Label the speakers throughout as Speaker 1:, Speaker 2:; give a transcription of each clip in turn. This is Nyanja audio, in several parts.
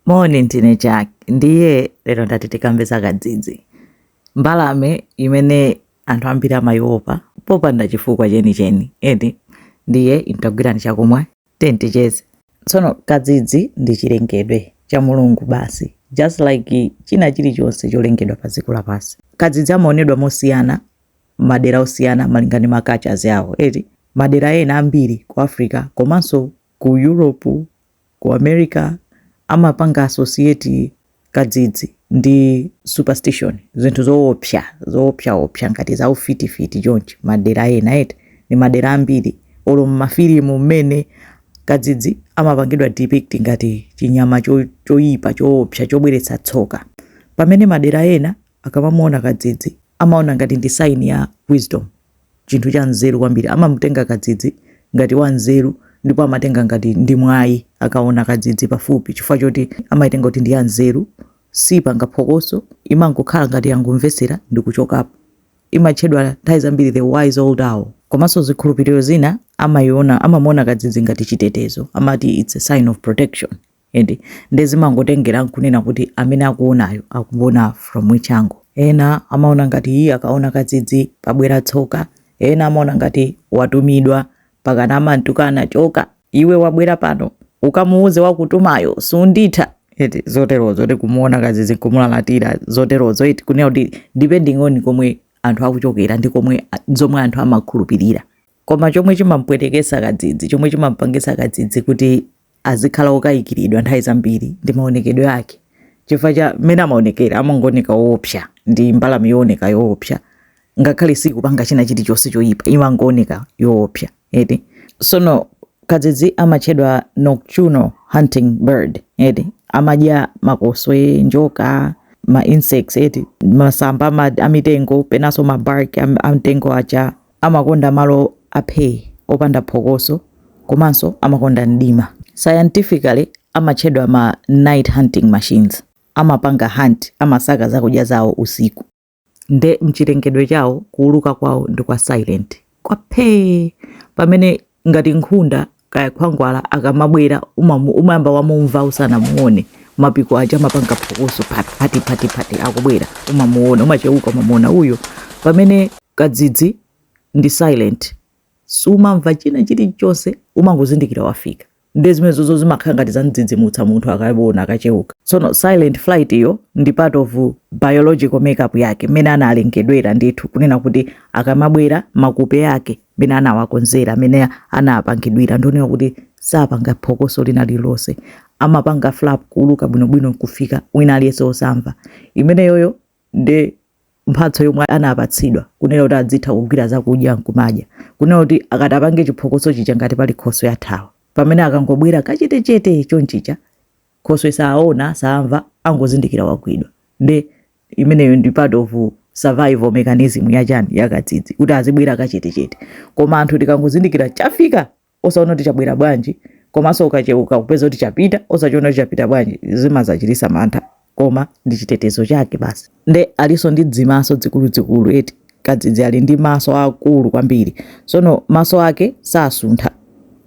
Speaker 1: Moni ndine Jack ndiye lero ndati tikambe za kadzidzi, mbalame imene anthu ambiri amayiopa popanda chifukwa chenicheni eti ndiye mutagwirani chakumwa tenticheze. Tsono kadzidzi ndi chilengedwe cha Mulungu basi just like china chilichonse cholengedwa pa dziko lapansi. Kadzidzi amaonedwa mosiyana madera osiyana malinga ndi ma cultures awo eti madera ena ambiri ku Africa komanso ku Europe, ku America amapanga associate kadzidzi ndi superstition, zinthu zoopsa zoopsaopsa ngati za ufitifiti chonchi madera ena eti ndi madera ambiri olo m'mafilimu mmene kadzidzi amapangidwa depict ngati chinyama cho, choyipa choopsa chobweretsa tsoka pamene madera ena akamamuona kadzidzi amaona ngati ndi sign ya wisdom chinthu cha nzeru kwambiri amamutenga kadzidzi ngati wa nzeru ndipo amatenga ngati ndi mwayi akaona kadzidzi pafupi chifukwa choti amaitenga kuti ndi ya nzeru sipanga phokoso imangokhala ngati yangomvetsera ndi kuchokapo imatchedwa nthawi zambiri the wise old owl komanso zikhulupiriro zina amayiona amamuona kadzidzi ngati chitetezo amati it's a sign of protection eti nde zimangotengera nkunena kuti amene akuonayo akuona from which angle ena amaona ngati iye akaona kadzidzi pabwera tsoka ena amaona ngati watumidwa pakana amamtukana choka iwe wabwera pano ukamuuze wakutumayo sunditha eti zoterozo eti kumuona kadzidzi nkumulalatira zoterozo eti kunena kuti depending on komwe anthu akuchokera ndi komwe a- zomwe anthu amakhulupirira koma chomwe chimampwetekesa kadzidzi chomwe chimampangisa kadzidzi kuti azikhala okayikiridwa nthawi zambiri ndi maonekedwe ake chifukwa cha mmene amaonekera amangooneka woopsa ndi mbalame yooneka yoopsa ngakhale sikupanga china chilichonse choyipa imangooneka yoopsa eti sono kadzidzi amatchedwa nocturnal hunting bird eti amadya makoswe njoka ma insects eti masamba amitengo penanso mabark amtengo aja Amakonda malo a phee, opanda phokoso, komanso amakonda mdima. Scientifically, amatchedwa ma night-hunting machines. Amapanga hunt, amasaka zakudya zawo, usiku. Nde m'chilengedwe chawo, kuwuluka kwawo ndi kwa silent, kwa phee! Pamene, ngati nkhunda, kaya khwangwala akamabwera umamu- umayamba wamumva usanamuone mapiko aja amapanga phokoso phati phati phati phati akubwera umamuona umacheuka umamuona uyo pamene kadzidzi ndi silent sumamva china chilichonse umangozindikira wafika nde zimenezozo zimakhala ngati zamdzidzimutsa munthu akaona akacheuka tsono silent flight iyo ndi part of biological makeup yake mmene analengedwera ndithu kunena kuti akamabwera makupe ake amene anawakonzera amene anapangidwira ndi onena kuti sapanga phokoso lina lililonse amapanga flap kuuluka bwinobwino nkufika wina aliyense osamva imeneyoyo ndi mphatso yomwe anapatsidwa kunena kuti adzitha kugwira zakudya nkumadya kunena kuti akatapanga chiphokoso chija ngati pali khoswe yathawa pamene akangobwera kachetechete chonchija khoswe saona saamva angozindikira wagwidwa nde imeneyo ndi part of survival mechanism ya chani ya kadzidzi kuti azibwera kachetechete koma anthu tikangozindikira chafika osaona kuti chabwera bwanji komanso ukacheuka kupeza kuti chapita osachiona kuti chapita bwanji zimazachitisa mantha koma ndi chitetezo chake basi nde alinso ndi zimaso zikuluzikulu eti kadzidzi ali ndi maso akulu kwambiri sono maso ake sasuntha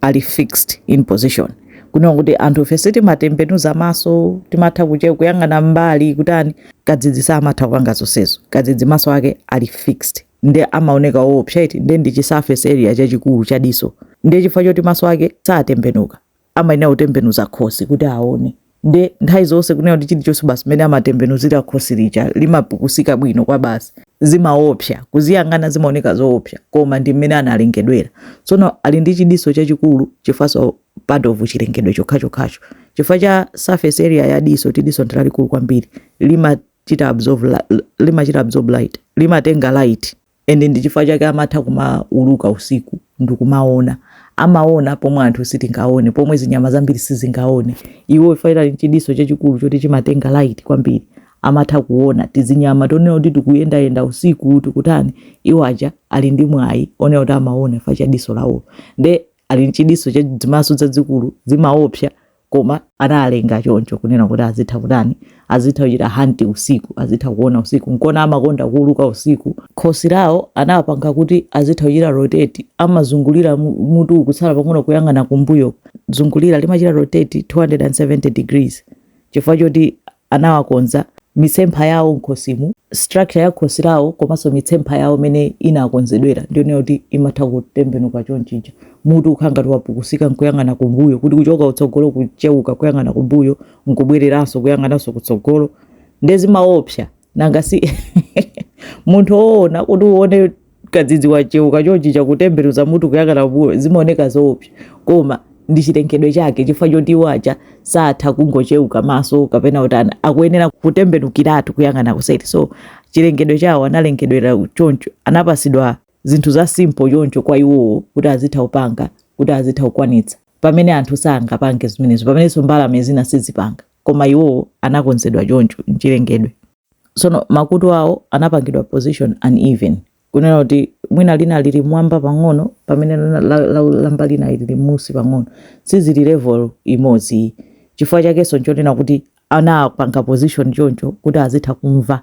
Speaker 1: ali fixed in position kunena kuti anthu ifeyo timatembenuza maso timatha kuche kuyang'ana mbali kutani kadzidzi samatha kupanga zonsezo kadzidzi maso ake ali fixed nde amaoneka oopsa eti nde ndi chisurface area chachikulu cha diso nde chifukwa choti maso ake satembenuka amayenera kutembenuza khosi kuti aone nde nthawi zonse kunena kuti chilichonse basi mmene amatembenuzira khosi lija limapukusika bwino kwa basi zimaopsa kuziyang'ana zimaoneka zoopsa koma ndi mmene analengedwera tsono ali ndi chidiso chachikulu chifanso part of chilengedwe chokhachokhacho chifukwa cha surface area ya diso ti diso ndi lalikulu kwambiri limachita absorb light limatenga light and ndichifukwa chake amatha kumauluka usiku ndikumaona amaona pomwe anthu sitingaone pomwe zinyama zambiri sizingaone iwo ifa ali nchidiso chachikulu choti chimatenga light kwambiri amatha kuona tizinyama tonena kuti tikuyendayenda usiku tikutani iwo aja ali ndi mwayi onena kuti amaona ifa cha diso lawo nde ali nchidiso cha zimaso zazikulu zimaopsa koma analenga choncho kunena kuti azitha kutani azitha kuchita hunt usiku azitha kuona usiku nkona amakonda kuuluka usiku khosi lawo anapanga kuti azitha kuchita rotate amazungulira mu- mutu kutsala pang'ono kuyang'ana kumbuyo zungulira limachita rotate 270 degrees chifukwa choti anawakonza, mitsempha yawo m'khosimu, structure ya khosi lawo komanso mitsempha yawo mmene inakonzedwera ndi yonena kuti imatha kutembenuka chonchija, mutu kukhala ngati wapukusika n'kuyang'ana kumbuyo, kuti kuchoka kutsogolo kucheuka kuyang'ana kumbuyo n'kubwereranso kuyang'ananso kutsogolo, nde zimaopsa nanga si munthu woona kuti uone kadzidzi wacheuka chonchija kutembenuza mutu kuyang'ana kumbuyo zimaoneka zoopsa koma ndi chilengedwe chake chifukwa choti iwo aja satha kungocheuka maso kapena utani akuyenera kutembenukiratu kuyang'ana kuseri so chilengedwe chawo analengedwera choncho anapasidwa zinthu za simple choncho kwa iwowo kuti azitha kupanga kuti azitha kukwanitsa pamene anthu sangapange zimenezo pamenenso mbalame zina sizipanga koma iwowo anakonzedwa choncho mchilengedwe Tsono makutu awo anapangidwa position uneven, kunena kuti mwina lina lili m'mwamba pang'ono pamene la, la, la, lamba lina lili m'munsi pang'ono, sizili level imodzi ayi. Chifukwa chakenso nchonena kuti anapanga position choncho kuti azitha kumva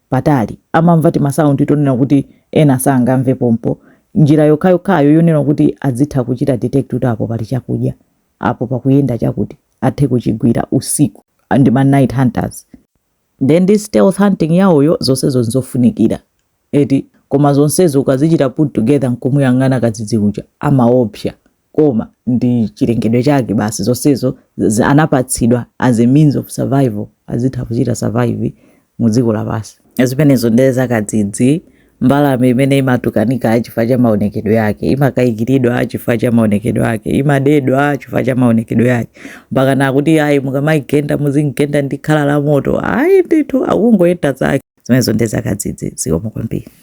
Speaker 1: patali, amamva timasaundi tonena kuti ena sangamve pompo. Njira yokhayokhayo yonena kuti azitha kuchita detect kuti apo pali chakudya, apo pakuyenda chakuti, athe kuchigwira usiku ndi ma night hunters. Nde ndi stealth hunting yawoyo zonsezo nzofunikira eti? Koma zonsezo ukazichita put together nkumuyang'ana kadzidzi uja amaopsa koma ndi chilengedwe chake basi zonsezo anapatsidwa as a means of survival azitha kuchita survive mu dziko lapansi. Zimenezo nde za kadzidzi mbalame imene imatukanika chifukwa cha maonekedwe yake imakayikiridwa chifukwa cha maonekedwe ake imadedwa chifukwa cha maonekedwe yake mpakana kuti ayi mukamayigenda muzimgenda ndi khala la moto ayi ndithu akungoyenda zake zimenezo nde za kadzidzi zikomo kwambiri